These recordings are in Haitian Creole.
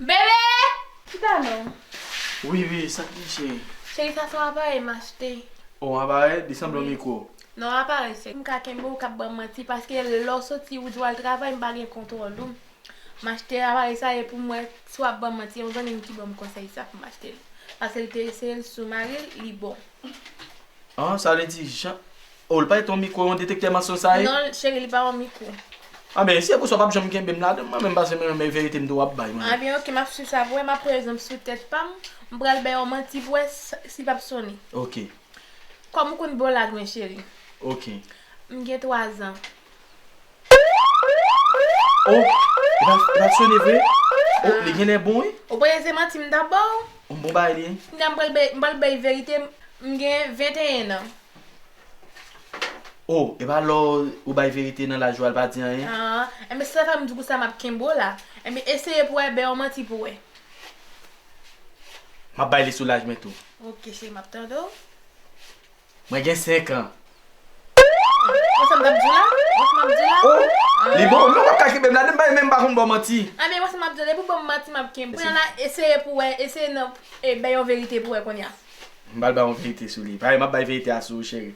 Bebe! Chita non. Wi wi, sa ki gen cheri? Cheri sa son aparèy m achte. Oh aparèy? Li sanble yon mikwo. Non aparèy sèks. M ka kenbe w k ap ban m manti paske lè w soti ou di w al travay m pa gen kontwòl ou. M achte aparèy sa e pou m wè si w ap ban m manti. Yon zanmi m ki ban m konsèy sa pou m achte l. Paske l te eseye l sou mari l, li bon. An sa vle di jan Oh li pa rete yon mikro yon detektè mansonj sa ye? Non cheri li pa yon mikro. Anben si se pou sa w pap janm kenbe m ladan mwen menm paske mwen renmen verite m tou wap bay mwen. Anben ok map swiv sa pou wè map pran egzanp sou tèt pa m m pral bay yon manti pou wè si pap sone. Ok. Kòm ou konn bon lag mwen cheri. Ok. M gen 3 zan. Oh e pa sone vre oh li genlè bon wi. Ou panse se manti m tap baw. M bon bagay li. Kounya m pral bay m pral bay verite m gen 21 ans. Oh epa lè ou bay verite nan laj ou a li pa di anyen. Aah enben si sa fèm di kousa map kenbe w la enben eseye pou wè bay yon manti pou wè. Map bay li sou laj mwen tou. Ok cheri map tande w. Mwen gen 5 an. Wè sa map diw la? Wè sa map diw la? Oh li bon wi non wap ka kenbem la depi bay menm pa konn baw manti. A men wè sa map diw la depi ou banm manti map kenb kounye la eseye pou wè eseye nan e bay yon verite pou wè kounye a. M pral bay yon verite sou li. Paske map bay verite a sou ou cheri.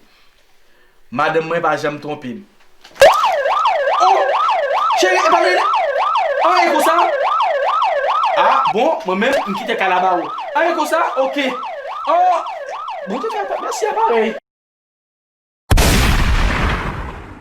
Madanm mwen pa janm twonpem. Oh Cheri epa li Ah e konsa Ah bon mwen menm m kite kay la ba ou Ah e konsa ok Oh Bon tout fè mèsi apa.